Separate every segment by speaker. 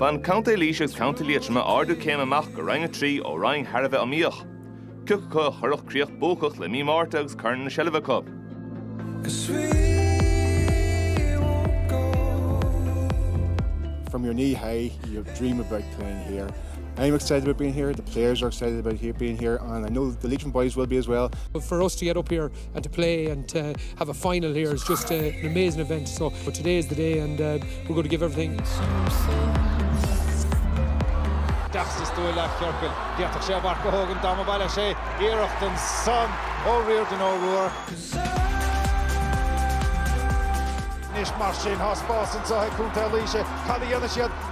Speaker 1: Bhain Contae Laoise agus Contae Liatroma ardú céime amach go Roinn 3 ó roinn thar a bheith iomaíoch. Cé acu a chuirfeadh críoch buacach le mí Márta agus corn ina seilbh acu.
Speaker 2: from your knee high, you dream about playing here. I'm excited about being here, the players are excited about here, being here, and I know the Leitrim boys will be as well. But for us to get up here,
Speaker 3: and to play and to have a final here is just a, an amazing event. So but today is the day and uh, we're going to give everything.
Speaker 4: Deachsas dúil le Ciorcail. Déach sé bharc go hógan dá mba baile sé iarracht ansan ó Riordan O'Rourke. Anois mar sin tá spás anso ag Contae Laoise. Cad a dhéanfaidh siad?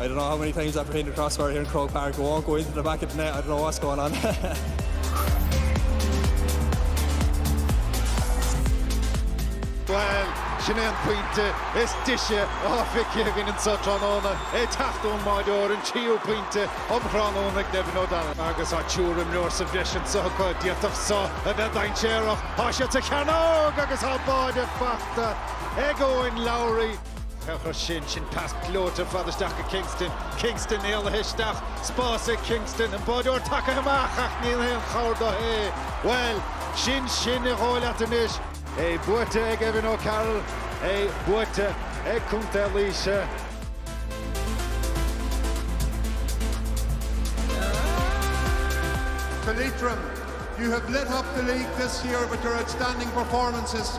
Speaker 5: I don't know how many times I've hit the crossbar here in Croke Park, it won't go into the back of the net, I don't know what's going
Speaker 4: on. Bhuel, sin é an pointe is deise atá feicthe againn anseo tráthnóna, ag teacht ón mbáireoir, an tríú pointe um thráthnóna ag Nevin O'Donnell. Agus tá triúr imreoir sa bhreis anseo acu, d'fhéadfadh seo a bheith dainséarach. Tá siad sa chearnóg agus tá báire fachta ag Eoin Lowry. Féach air sin, sin pas gleoite fada isteach go Kingston. Kingston éalaithe isteach, spás ag Kingston, an báireoir tagaithe amach ach níl aon chabhair dó é. Bhuel, sin sin ba dhóigh leat anois. É buaite ag Evan O'Carroll, é buaite ag Contae
Speaker 6: Laoise. To Leitrim, You have lit up the league this year with your outstanding performances.